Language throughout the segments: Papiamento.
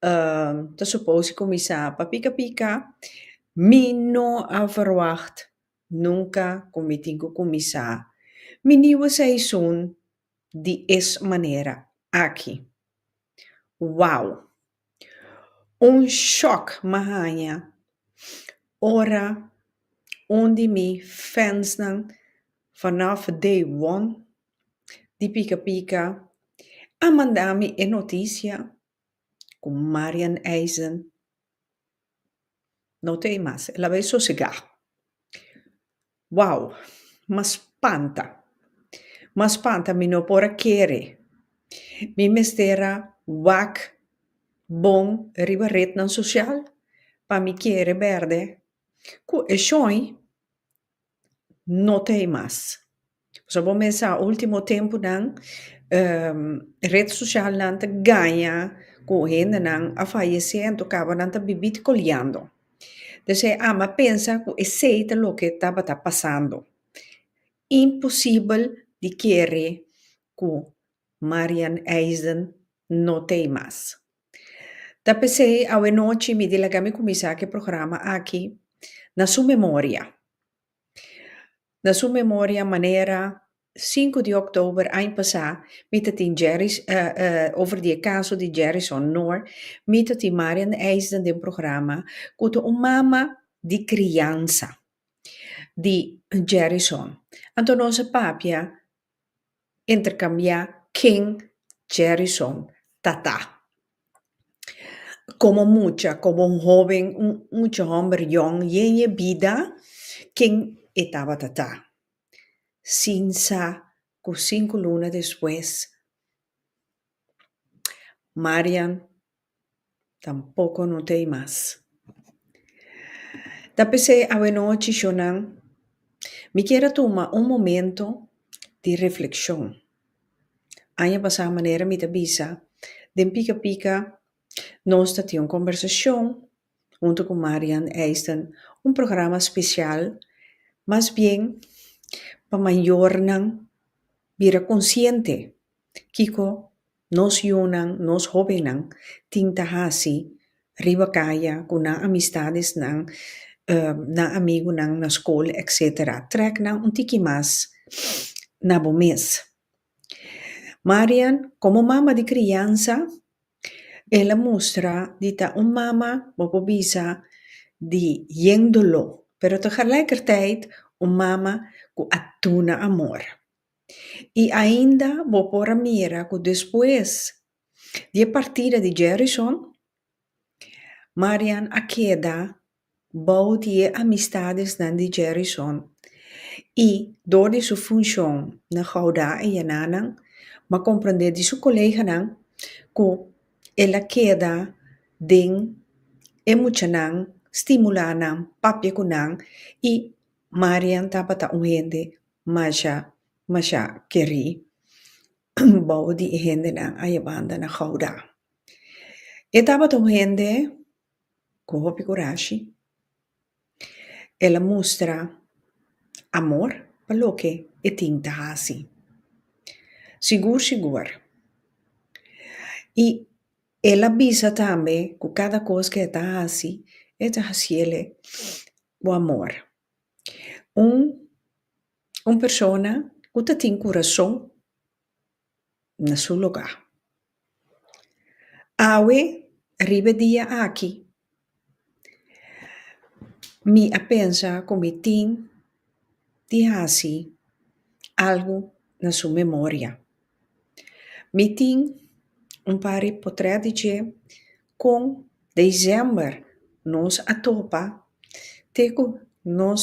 Ta supose cu mi sa pa pica pica. Mi no a verwacht nunca cu mi tin cu cuminsa mi nieuwe seizoen di es manera aki. Wow! Un shock m'a haña ora un di mi fansnan vanof day one di pica pica a manda mi e noticia. Cu Marian Eisen no ta ey mas. El a bay sosega. Wow! M'a spanta. M'a spanta. Mi no por a kere. Mi mester a wak bon riba rednan social pa mi kere berde cu e shoin. no ta hei mas pasobra bo mester sa ultimo tempunan ret socialnan ta gaña cu hendenan a fayecé anto caba nan ta bibí te coleando p'esei ama pensa cu esey ta loke tabata pasando imposibel di kere cu Marian Eisen no ta hei mas. Ta pesey awe nochi mi di laga mi kuminsá ke programa aki na su memoria. Na su memoria manera sinku di òktober aña pasá mi ta tin Jerry's over di e kaso di Jerrison Noor, mi ta tin Marian Eisden den programa ku ta un mama di kriansa di Jerrison. Anto nos a papia intercambia ken Jerison ta ta. Como mucha, como un hoben, un mucha homber yòn yen e bida, ken e tabata ta. Sin sa cu cinco luna despues, Marian. Tampoco no t'ey mas. Ta pesey awenochi shonan mi kier a tuma un momento di reflexion. Aña pasá manera mi ta bisa den pika pika nos ta tin un conversacion huntu ku Marian Eysden un programa spesial mas bien pa mayornan bira konsiente kiko nos yunan, nos hobennan tin ta hasi riba kaya ku nan amistadesnan, nan amigunan na skol etcetera. Trèk nan un tiki mas na bo mes. Marian, komo mama di kriansa, el a mustra di ta un mama bo por bisa di yen doló, pero tegelijkertijd un mama ku a duna amor. I ainda bo por a mira ku despues di e partida di Jerrison, Marian a keda bou di e amistadesnan di Jerrison, i dor di su funshon na Goudé e Yenanan, bo a komprendé di su koleganan ku el a keda den e muchanan, stimulá nan, papia ku nan, i Marian tabata un hende masha, masha kerí. bou di e hendenan a yebanda na Goudá. E tabata un hende cu hopi curashi. El a mustra amor pa loke e tin ta haci. Sigur sigur, y el a bisa tambe cu cada cos cu e ta haci, e ta haciele cu amor. Un Un persona cu ta tin curason na su lugar. Awe, riba e dia aki, mi a pensa cu mi tin di haci algo na su memoria. Mi tin un par di potret di dje con december nos a topa te cu nos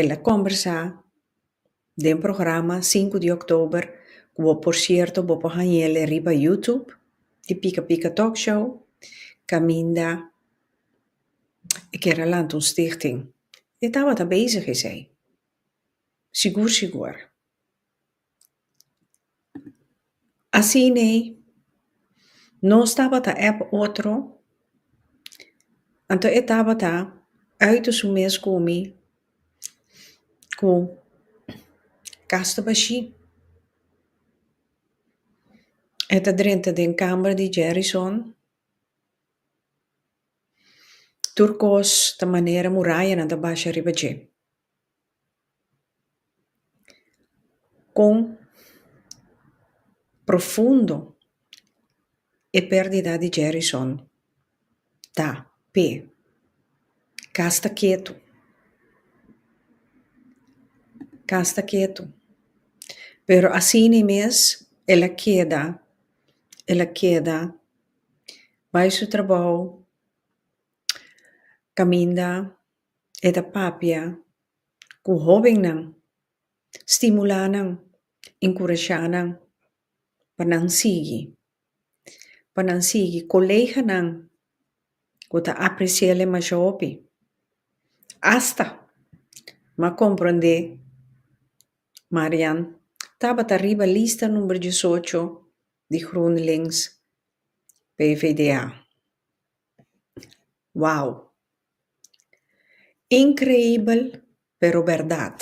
El a kòmbersá den programa sinku di òktober, ku bo por sierto bo por hañ'el riba YouTube, di Pika Pika Talk Show, kaminda e ker a lanta un stichting. E tabata bezig esei, sigur sigur. Asine nos tabata ep otro anto e tabata ùit su mes ku mi ku kasta bashi e ta drenta den kamer di Jerison tur kos ta manera murayanan ta basha riba dje. Kon profundo e perdida di Jerrison ta p'e? Ka sta ketu. Ka sta ketu. Pero asina mes el a keda, el a keda bai su trabou, kaminda. E ta papia ku hobennan, stimulá nan, enkurashá nan pa nan sigui. Pa nan sigui. Koleganan ku ta apresiéle masha hopi, asta m'a komprondé Marian tabata riba lista number disocho di GroenLinks PvdA. Wow! Increibel pero berdad.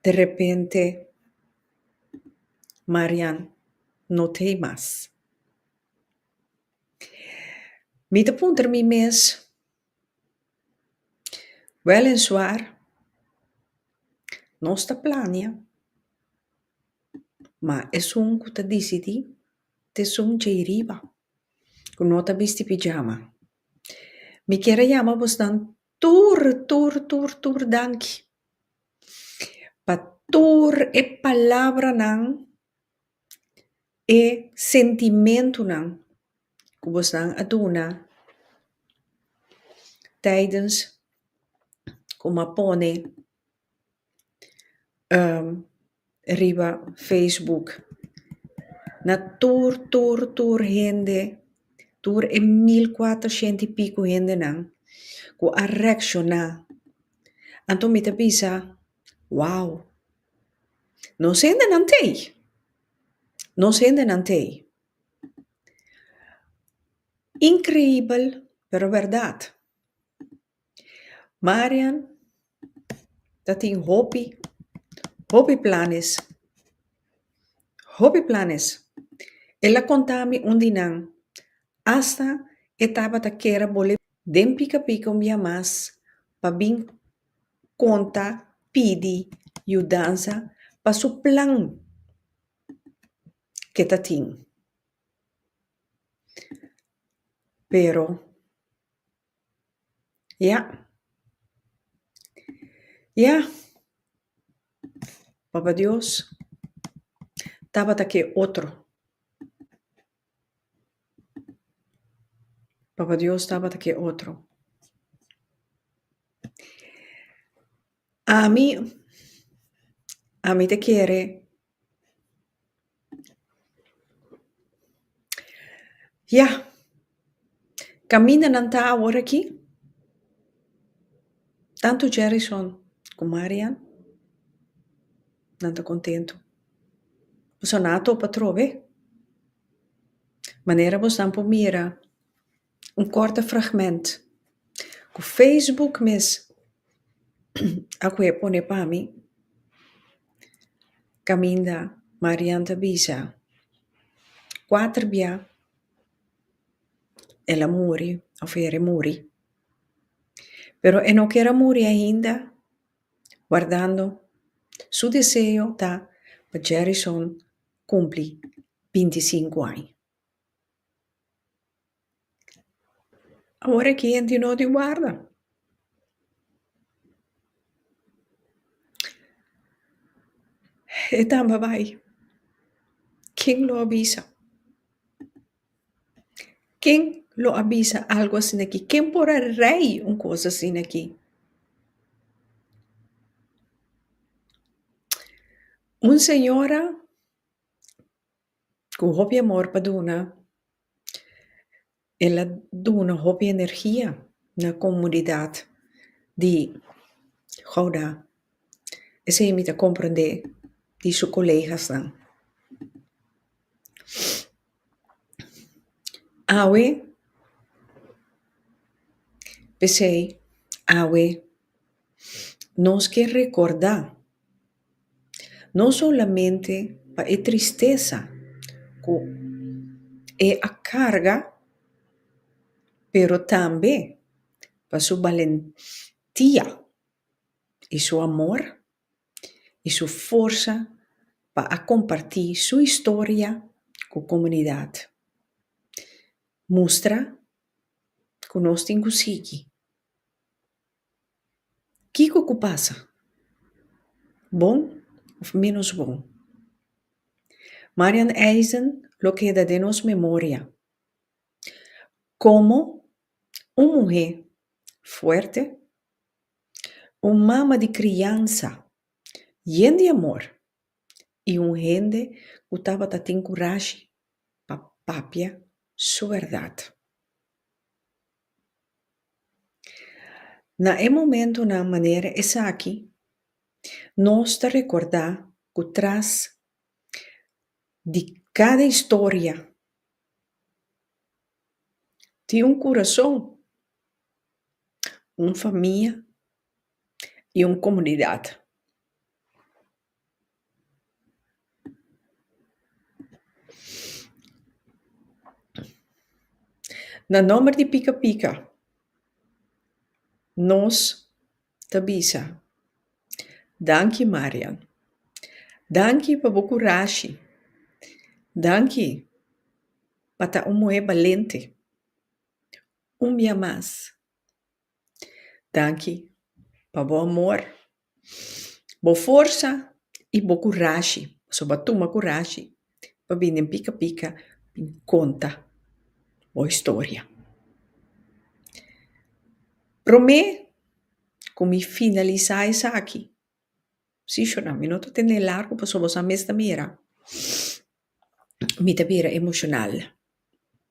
De repente Marian no te mas. Mi ta puntra mi mes Wel en suar, nos ta plania, ma esun cu ta dicidí ta esun djei riba, cu no ta bisti pijama. Mi kier a yama bosan tur, tur, tur, tur danki pa tur e palabranan. E sentimentunan ku bosanan a duna taidens kuma pone riba facebook na tur tur tur hende tur e mil kuater shent i piko hendenan ku a reakshona anto mi ta bisa wow. Nos hendenan t'ei. Nos hendenan t'ei. Increibel, pero berdad. Marian ta tin hopi, hopi planes, hopi planes. El a conta mi un di nan, hasta e tabata kere bol'e den Pica Pica un bia mas pa bin konta pidi yudansa pa su plan ke ta tin. Pero, ya. Ya, Papa Dios tabata ke otro. Papa Dios tabata cu e otro. Ami, ami ta kere yah. Camindanan ta awor aki. Tanto Jerrison cu Marian. nan ta kontentu. Boso na a topa trobe manera bosnan por mira un kòrte fragment ku facebook mes akwe a pone pa mi kaminda Marian ta bisa kuater bia el a muri òf e remuri pero e no kera muri ainda. Guardando, su deseo ta pa Jerryson kumpli binti i sinku aña. Awor e kende di nos di warda. E tamba bai. Ken lo a bisa? Ken lo a bisa algu asin'aki? Ken por a rei un kos asin'aki? Un señora ku hopi amor pa duna, el a duna hopi energia na komunidat di Gouda. Esei mi ta komprende di su kolegasnan. Awe, p'esei awe nos ke rekordá no solamente pa e tristesa ku e a karga pero tambe pa su balentia i su amor. i su forsa pa a kompartí su historia ku komunidat. Mustra ku nos tin ku sigui. Kiko ku pasa? Bon òf ménos bon? Marian Eisen lo keda den nos memoria komo un muhé fuerte, Un mama di kriansa yen di amor i un hende ku tabata tin kurashi pa papia su bèrdat. Na e momentunan manera esaki nos ta rekordá ku tras di kada historia Tin un kurason, un famia i un komunidat. Na nòmber di Pika Pika, nos. Ta bisa, Danki Marian. Danki pa bo kurashi. Danki pa ta un muhé balente. Un bia mas. Danki pa bo amor, bo forsa i bo kurashi. Pasobra bo a tuma kurashi pa bini den pika pika tin ki konta bo historia. Prome ku mi finalisa esaki, si shona mi no ta tende largu pasobra boso a mes ta mira, mi ta bira emoshonal.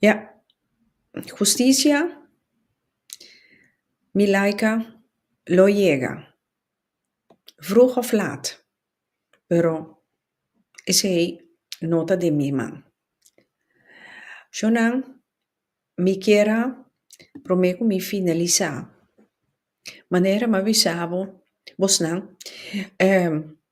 Ya. Husticia mi laika lo yega. Vroeg of laat. Pero esei no ta den mi man. Sjonan mi kier a prome ku mi finalisa manera mi a bisa bo, bosnan, ehm,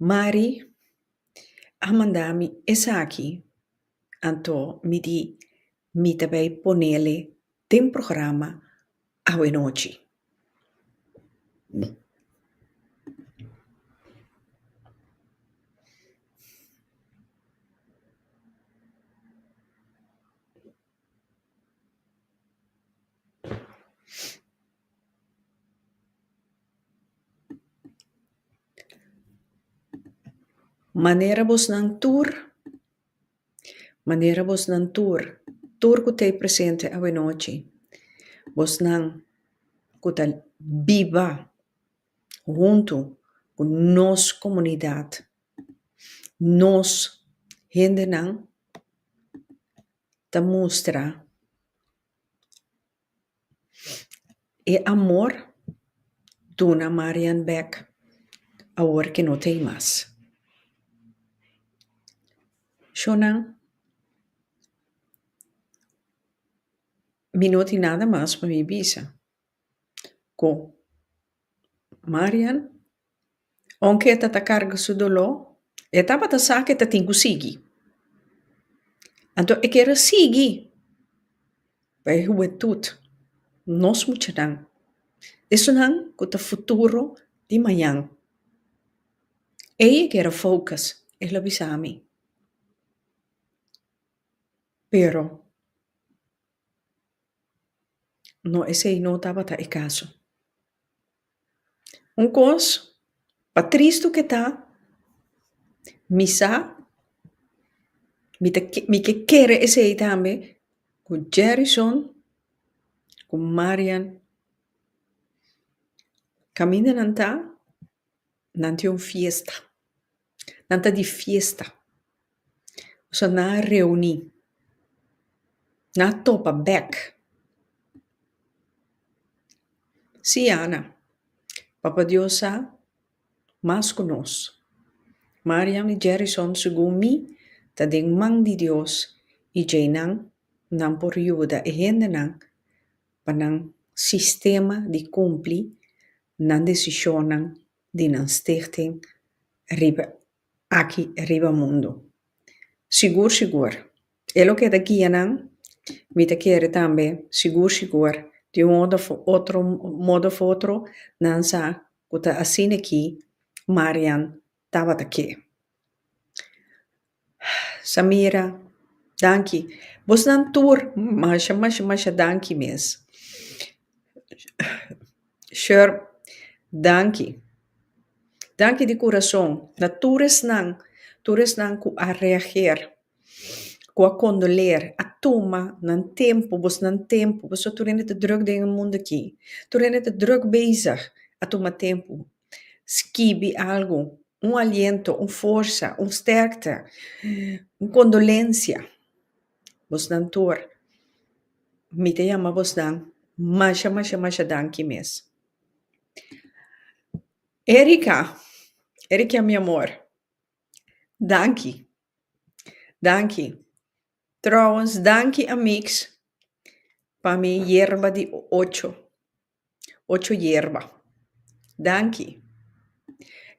Mari a manda mi esaki, anto mi di mi ta bay ponele den programa awe-nochi. Manera bosnan tur, manera bosnan tur, tur ku ta presente awenochi, bosnan ku ta biba huntu ku nos komunidat, nos hendenan ta mustra. E amor duna Marian bek awor ke no ta ei mas. Shunan, mi no tin nada mas pa mi bisa. Ku. Marian, Aunke e ta ta carga su doló, e tabata sa cu e ta tin cu sigui. Anto e kere sigui pa e hubentud, nos muchanan. Esunnan cu ta futuro di mañan. Ei e kere focus, el a bisa mi. Pero, No, esei no tabata e caso. Un cos, pa tristu cu ta, mi sa, mi ta ke- mi ke kere esei tambe, cu Jerrison cu Marian caminda nan ta. Nan tin un fiesta. Nan ta di fiesta. So nan a reuni. Nan a topa bek. Sí, Ana. Papa Dios sa mas ku nos. Marian i Jerison, segun mi, ta den man di Dios i djeinan nan por yuda e hendenan pa nan sistema di cumpli nan decisionnan di nan Stichting riba aki riba mundo. Sigur sigur e loke ta guia nan, mi ta kere tambe sigur sigur di un modo of otro modo of otro nan sa cu ta asina aki Marian Tabata ke. Samira, Danki. Bosnan tur masha masha masha danki mes. Sher, Danki. Danki di kurason na tur esnan, tur esnan ku a reager, ku a kondoler, a tuma nan tempu, bosnan tempu, pasobra tur hende ta drùk den e mundu aki. Tur hende ta drùk bezig a tuma tempu Skibi algu, un aliento, un forsa, un stèrkte, un kondolensia. Bosnan tur, mi ta yama bosnan masha masha masha danki mes. Erika, Erikia mi amor, danki, danki. Tròwens, danki amiks pa mi yerba di ocho. Ocho yerba. Danki.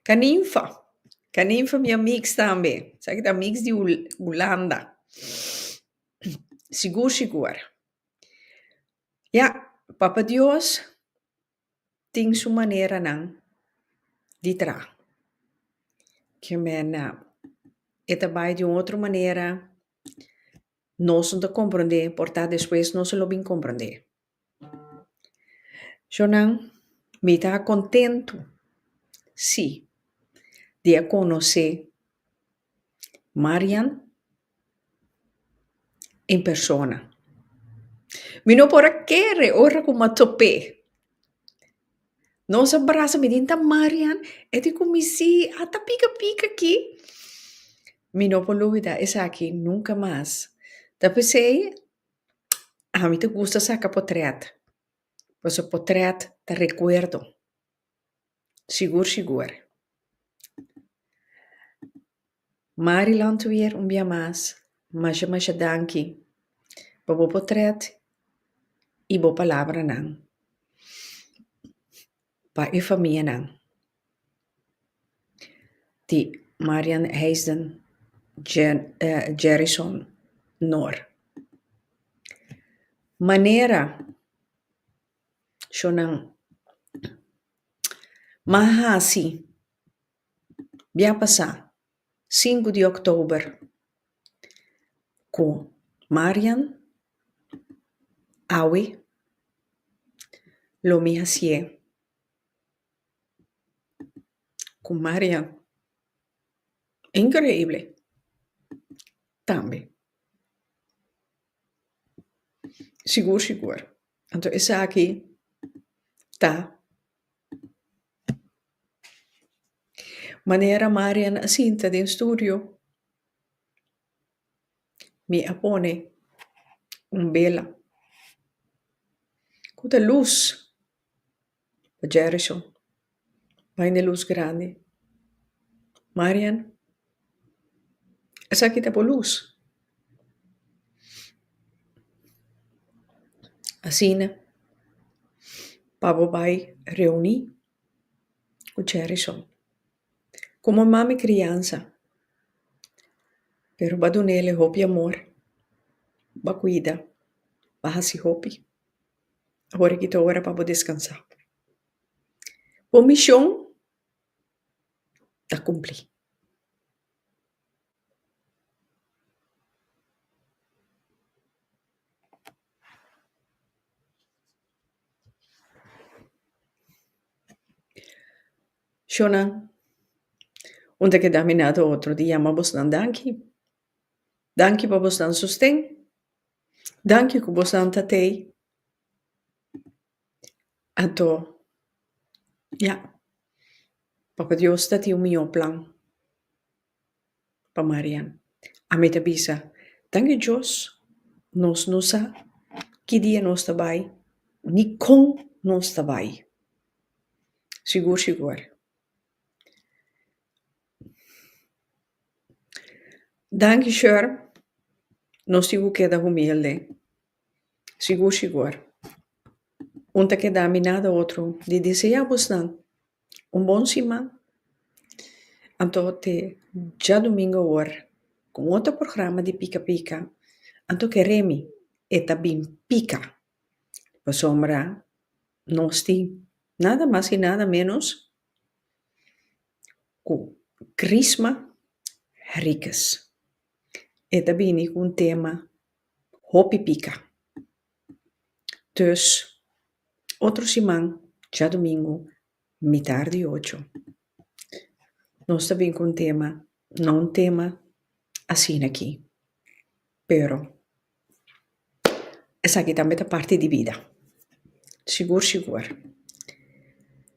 Kaninfa. Kaninfa mi a mix tambe. Sa ki ta mix di Hulanda. Sigur si ku wòrdu. Ya, Papa Dios tin su maneranan di traha. Ke mena e ta bai di un otro manera. Nos no ta komprondé, por ta despues nos lo bin komprondé. Shownan, mi ta contento si di a conoce Marian en persona. Mi no por a kere ora cu m'a top'é. Nos a brasa, mi di, Nta Marian e di cu mi, Sí, a ta pica pica aquí. Mi no por lubida esaki nunca mas. Ta p'esei. Ami ta gusta saka potret pasobra potret ta rekuerdo sigur sigur. Mari Landweer un bia mas masha masha danki pa bo potret i bo palabranan. Pa e famianan di Marian Heijden Jerryson Noor. Manera shonnan mas hasi. Bia pasá sinku di oktober ku Marian, awe, lo mi hasié ku Marian inkreible tambe. Sigur sigur. Anto esaki ta Manera Marian a sinta den studio, mi a pone un bela cu ta luz pa Jerison. Bai na luz grandi. Marian. Esaki ta por luz. Asina pa bo bai reuni ku chèrisou. Komo mami kriansa. Pero ba dunele hopi amor. Ba kuida. Ba hasi hopi. Awor a kito ora pa bo deskansá. Bo mishon. ta cumpli. Shonan, un ta keda mina otro dia ta yama bosnan danki. Danki pa bosnan sosten. Danki cu bosnan ta tey. Ato, ya. Papa Dios ta tin un mihó plan pa Marian. Ami ta bisa, Danki Dios, nos no sa ki dia nos ta bai, ni kon nos ta bai. Sigur, sigur. Danki, Sher. Nos tin ku keda humilde. Sigur sigur. Un ta keda minada otro di desea bosnan un bon siman. Anto te djadumingu awor ku un otro programa di pika pika. Anto ke Remy e ta bin pika. Pasobra nos tin nada mas i nada menos ku Chrisma Henriquez. E ta bini ku un tema hopi pika. Dus, otro siman, djadumingu, mitar di ocho, nos ta bin ku un tema, no un tema asina aki, pero esaki tambe ta parti di bida, sigur sigur.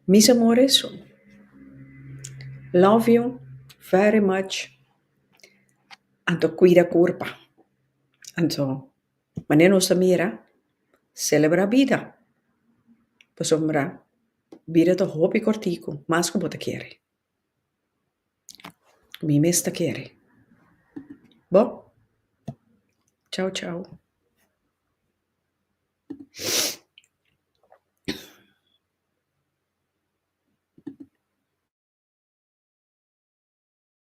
Mis amores, love you very much. Anto cuida curpa. Anto mane nos ta mira celebra bida. Pasobra bida ta hopi corticu. Mas cu bo ta kere. Mi mes ta kere. Bo? Chau chau.